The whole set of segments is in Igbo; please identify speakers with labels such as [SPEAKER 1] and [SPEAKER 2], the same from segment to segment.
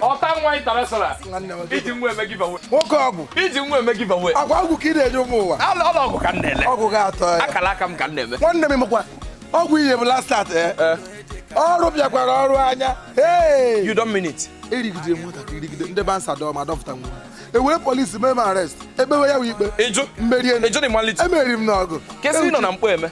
[SPEAKER 1] ọta
[SPEAKER 2] nwa international iji nwa eme giveaway nwoke ọgwụ
[SPEAKER 1] iji nwa eme
[SPEAKER 2] giveaway agwa ọgwụ ka ị na-enye
[SPEAKER 1] ụmụ nwa ọla ọgwụ ka m
[SPEAKER 2] na-ele ọgwụ ga-atọ ya akara
[SPEAKER 1] aka m ka m na-eme
[SPEAKER 2] nwanne m mekwa
[SPEAKER 1] ọgwụ ihe bụ last start eh? Eh. ọrụ bịakwara ọrụ anya hey you don't mean
[SPEAKER 2] it erigide
[SPEAKER 1] nwatakịrị rigide ndị bouncer dọọ ma dọpụta nwụrụ ewere polisi mee m arrest ekpewe ya wụ ikpe ịjụ mmerie ịjụ
[SPEAKER 2] na ịmalite
[SPEAKER 1] emeriri m
[SPEAKER 2] n'ọgụ
[SPEAKER 1] kesị nọ na mkpọ eme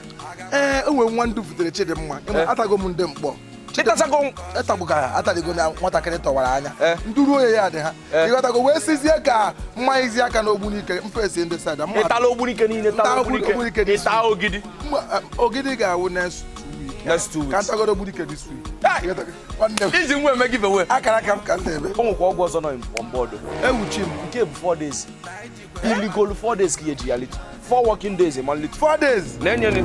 [SPEAKER 2] ee enwe nwa
[SPEAKER 1] ndụ butere chidimma atago m ndị mkpọ
[SPEAKER 2] ịtasago ịtagbu ka
[SPEAKER 1] ataligo na nwatakịrị tọwara anya eh. ndị ruo ya ya dị ha eh. ịghọtago wee sizie ka m manyezie aka na ogbunike m face ndị side a ịtala ogbunike niile
[SPEAKER 2] ịta ogidi eh,
[SPEAKER 1] ogidi ga-awụ next week next week ka m tagodu ogbunike this
[SPEAKER 2] week iji nwa eme giveaway akara aka m ka m na-eme
[SPEAKER 1] o nwekwa ọgwụ ọzọ nọ
[SPEAKER 2] on board ewuchi m nke
[SPEAKER 1] bụ four days
[SPEAKER 2] illegal four days ka ihe ji ya litu four working days ma litu four days na-enyere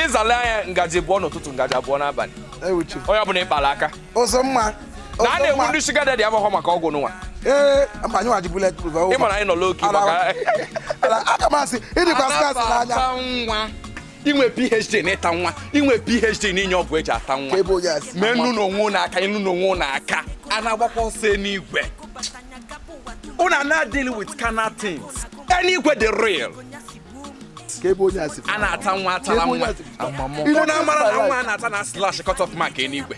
[SPEAKER 2] ịzala anya ngaji abụọ n'ụtụtụ ngaji abụọ n'abalị onye ọbụla
[SPEAKER 1] ịkpara aka
[SPEAKER 2] ụzọma
[SPEAKER 1] na a na-egbu ndị
[SPEAKER 2] sugar daddy abụghọ maka ọgwụ n'ụwa ee mba anyị waji
[SPEAKER 1] bulletproof ị mara anyị nọ low
[SPEAKER 2] key maka aka
[SPEAKER 1] m asị ịdịkwa scarce n'anya
[SPEAKER 2] inwe phd n'ịta nwa inwe phd n'inye ọgwụ eji ata nwa mee nnu na onwe ụnụ aka ịnụ na onwe ụnụ aka a na-agbakwa ọsọ n'igwe ụnụ na-deal with carnal things anywhere the real ka ebe onye a si a na-ata nwa atala Ebe onye nwa a si- Amamụ. Ị na-ata mara na nwa a na-ata na-eslash cut off mark enigwe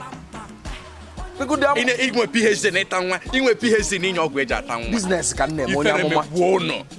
[SPEAKER 2] Bigodi amụ- Ị na- inwe phd na ịta nwa inwe phd na inye ọgwụ eji ata nwa business ka m na-eme onye ifere
[SPEAKER 1] amụma megbuo ụnụ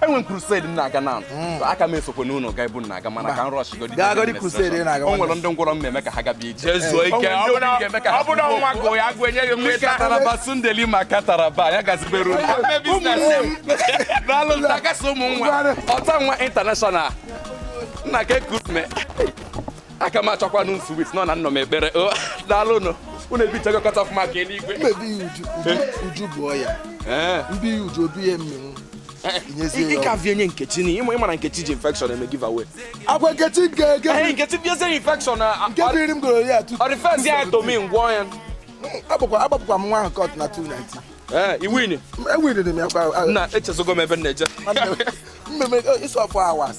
[SPEAKER 1] enwe m crusade
[SPEAKER 2] m na-aga na hmm. aka m esokwe n'ụlọ ga ebu na-aga mana ka m rushigodi gagodi crusade
[SPEAKER 1] m na-aga o nwere ndị ngwọrọ m na-eme ka
[SPEAKER 2] ha gaba ije jezuo ike ọ bụ na nwa gụ ya agụ enye gị m nweta kataraba sundeli ma kataraba ya gazibere ụlọ n'alụ ntakasị ụmụ nwa ọta nwa international nna ka ekurume aka m achọkwanụ nsu wit nọ na nnọ m ekpere daalụ nụ unu ebichago cut off mark eluigwe mmebi ya
[SPEAKER 1] uju uju bụ ọya mbi ya uju obi ya mmenwu
[SPEAKER 2] ịkavi enye nkechi na ịma ịmara nkechi ji infection eme giveaway agwa nkechi nke
[SPEAKER 1] nke nkechi
[SPEAKER 2] biezie infection nke biri m
[SPEAKER 1] goro ya tu ọ refers ya to
[SPEAKER 2] me m gwọọ ya
[SPEAKER 1] agbapụkwa m nwa ahụ court na 290 ee eh, iwin
[SPEAKER 2] ewiniri m ya kwa
[SPEAKER 1] na echezogo m ebe m
[SPEAKER 2] na-eje mmemme
[SPEAKER 1] 24 hours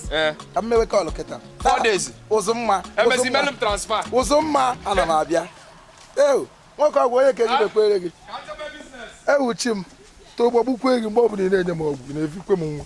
[SPEAKER 1] ka m mewe call kịta
[SPEAKER 2] four
[SPEAKER 1] days
[SPEAKER 2] ụzọma emezi melu m transfer ụzọma
[SPEAKER 1] ana m abịa ewu nwoke ọgwụ onye ka eji mekwere gị ka m chebe business ewu chi m too ụgbọ gbukwe gị
[SPEAKER 3] mgbe ọ
[SPEAKER 1] bụla ị na-enye m ọgwụ ị na-efikwe m nwa